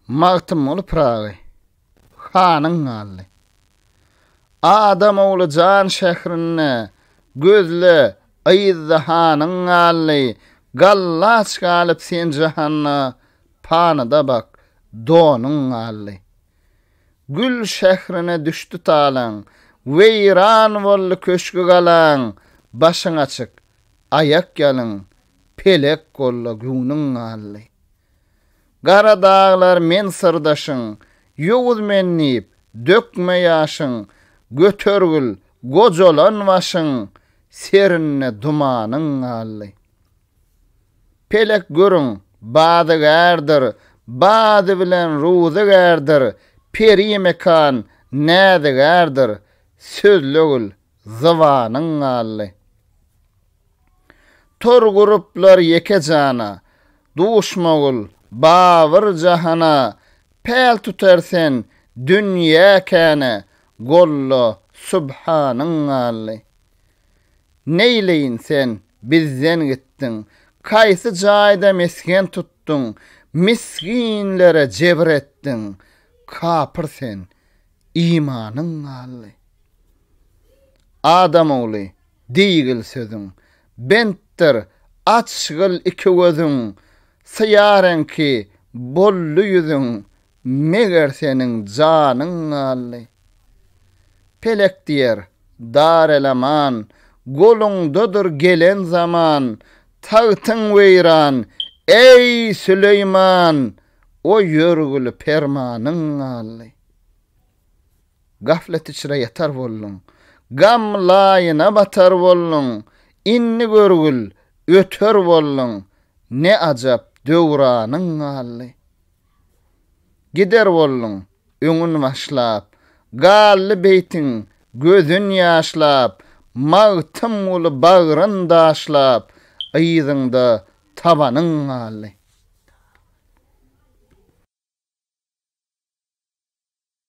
Magtymguly Pyragy hanyň galdy. Adam ogly jan şährinde, Gözle, yzda hanyň galdy. Gallaç galyp sen jahanda, Panyda bak, donuň galdy. Gül şährine düşdi talaň, Weýran boldy köşgi-galaň, Başyň açyk, aýakýalyn, Pelek golda göwnüň galdy. Gara daglar men syrdaşyň, Ýowuz men diýip, dökme ýaşyň, Götergil gojalan başyň, Serinde dumanyň galdy. Pelek görüň, badygärdir, Bady bilen ruzygärdir, Peri mekan näzigärdir, Sözlegil zybanyň galdy. Tor guruplar ýeke jana, Duşmagül, Babyr jahana, Päl tutar sen, dünýä käne, Golla, Subhanyň galdy. Neýleýin sen, bizden gitdiň, Kaýsy jaýda mesgen tutduň, Misginlere jebir etdiň, Kapyr sen, imanyň galdy. Adam ogly! Diýgil sözüň, bentdir, açgyl iki gözüň, Syýareň ki, boldy ýüzüň, Meger seniň janyň galdy. Pelek diýer, Darelaman, Goluňdadyr gelen zaman, Tagtyň weýran, eý, Süleýman, O ýörgüli permanyň galdy. Gaflet içre ýatar bolduň. Gam laýyna batar bolduň. Indi görgül, öter bolduň. Ne ajap, döwranyň galdy. Gider bolduň, öňün başlap. Galdy beýtiň, gözün ýaşlap. Magtymguly bagryn daşlap. Yzyňda tabanyň galdy.